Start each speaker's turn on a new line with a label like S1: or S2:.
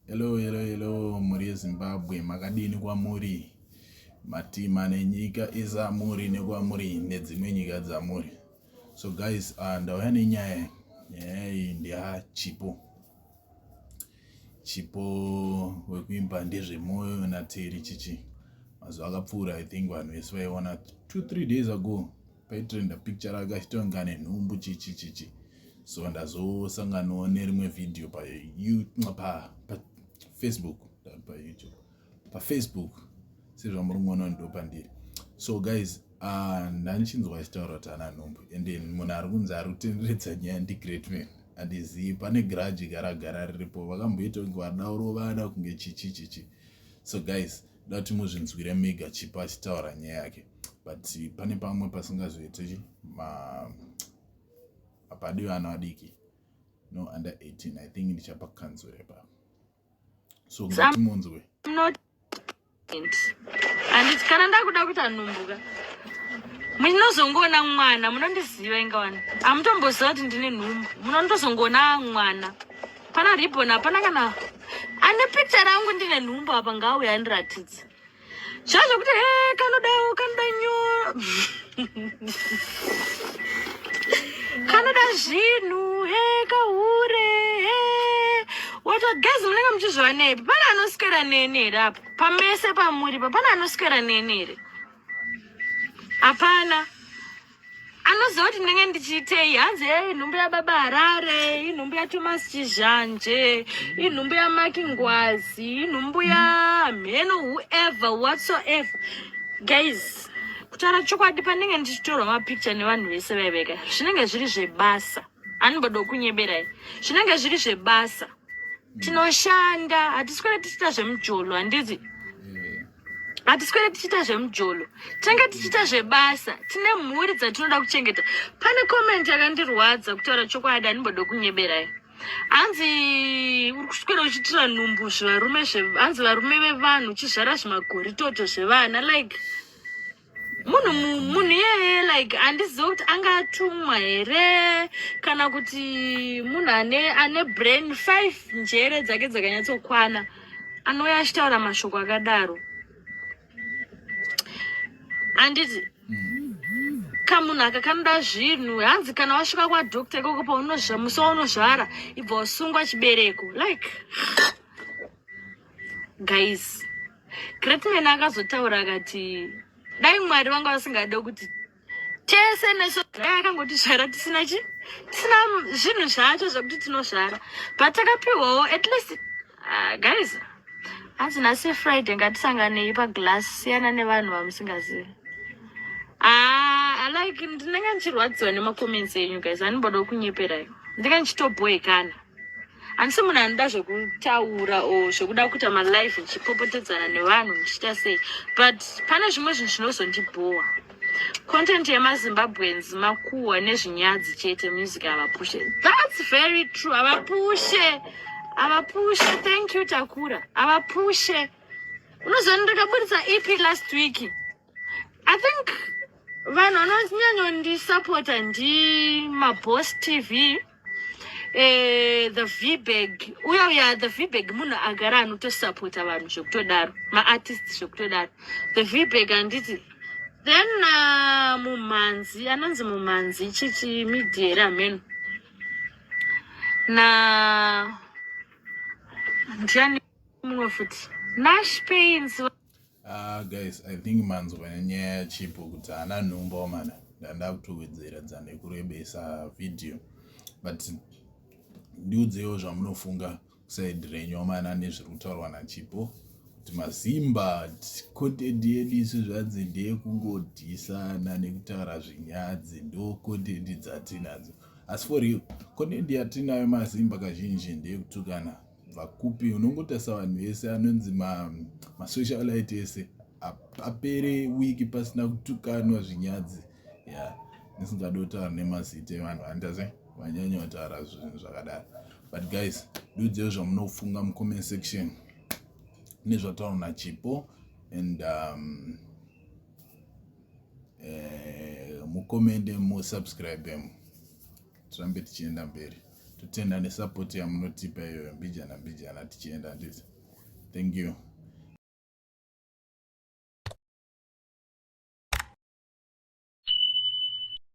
S1: Hello, hello, hello, mhuri yeZimbabwe, makadini kwamuri? Matima nenyika izamuri nekwamuri nedzimwe nyika dzamuri. So guys, uh, ndauya nenyaya nyaya iyi ndeya Chipo. Chipo wekuimba ndezvemoyo naTeri Chichi. Mazuva akapfuura I think vanhu vese vaiona 2 3 days ago. paitrenda picture rake achitonga nenhumbu chichi chichi so ndazosanganawo nerimwe vhidhiyo pafacebook payoutube pafacebook sezvamuringoona ndo pandiri so guys ah, ndanichinzwa achitaura kuti ana nhumbu and then munhu ari kunzi ari kutenderedza nyaya ndigreat man handizivi pane garaji garagara riripo vakamboita kunge vadaurova ana kunge chichi chichi so guys dati muzvinzwire mega chipa achitaura nyaya yake but pane pamwe pasingazoite hapadi vana vadiki no under 18 i think ndichapa kanzuro ipapa so ngati munzwe
S2: handiti kana ndakuda kuita nhumbuka munozongoona mwana munondiziva ingawani hamutomboziva kuti ndine nhumbu munondozongoona mwana Pana ribbon hapana kana ane picture rangu ndine nhumbu apa ngauya andiratidze. Zviya zvekuti he kanodawo kanoda nyoro. Kanoda zvinhu he kahure he. Wato guys munenge muchizviwanepi? Pana anoswera neni here apa? Pamese pamuri pa pana anoswera neni here? Hapana. anoziva kuti ndinenge ndichiitei hanzi e inhumbu yababa harare inhumbu yatomas chizhanje inhumbu yamaki ngwazi inhumbu yamheno whoever whatsoever guys kutaura chokwadi pandinenge ndichitorwa mapicture nevanhu vese vaiveka zvinenge zviri zvebasa anibada kunyeberai zvinenge zviri zvebasa tinoshanda hatisi kwene tichiita zvemujolo handizi hatiswere tichiita zvemujolo tinenge tichiita zvebasa tine mhuri dzatinoda kuchengeta pane komenti yakandirwadza kutaura chokwadi andimbode kunyeberai hanzi uri kuswera uchitira nhumbu zvivarume hanzi varume vevanhu uchizvara zvimagoritoto zvevana like munhu munhu iyeye like handizive kuti anga atumwa here kana kuti munhu ane ane brain five njere dzake dzakanyatsokwana anouya achitaura mashoko akadaro handiti kamunhu aka kanoda zvinhu hanzi kana wasvika kwadoctor ikoko paunozva musi waunozvara ibva wasungwa chibereko like guys greatman akazotaura akati dai mwari vanga vasingade kuti tese nesu dai akangotisvara tisina chi tisina zvinhu zvacho zvekuti tinosvara but takapiwawo at least uh, guys hanzi nhasi friday ngatisanganei paglass siyana nevanhu vamusingazivi ah, like ndinenge ndichirwadziwa nemacomments enyu guys andiboda kunyeperai ndinenge ndichitoboekana handisi munhu anoda zvekutaura o zvekuda kuita malife ndichipopotedzana nevanhu ndichiita sei but pane zvimwe zvinhu zvinozondibhowa content yemazimbabweans makuhwa nezvinyadzi chete music havapushe thats very true havapushe havapushe thank you takura havapushe unozoona ndakaburitsa ep last week i think vanhu vanonyanyondisapota ndimabos tv eh, the vbag uya uya the vbag munhu agara anotosapota vanhu zvekutodaro maartist zvekutodaro the vbag handiti then uh, mumhanzi anonzi mumhanzi chichi midyere ameno na ndiani mumwe futi nash pains Ah guys,
S1: I think manzwa nyaya yaChipo kuti haana nhumba omana ndandakutowedzera dzane kurebesa video but ndiudzewo zvamunofunga kusaidi renyu omana nezviri kutaurwa naChipo kuti masimba content yedu isu zvanzi ndeyekungodhisana nekutaura zvinyadzi ndo content dzatinadzo asi for real content yatinayo masimba kazhinji ndeyekutukana kubva kupi unongotarisa vanhu vese anonzi masocialite ma ese apere wiki pasina kutukanwa zvinyadzi ya yeah. ndisingadi kutaura nemazita evanhu andaze vanyanya kutaura zvinhu zvakadaro but guys ndiudzei zvamunofunga mucomment section nezvataura nachipo and um, eh, mukomende musubscribe mu tirambe tichienda mberi totenda nesupport yamunotipa iyoyo mbijana mbijana tichienda nditi thank you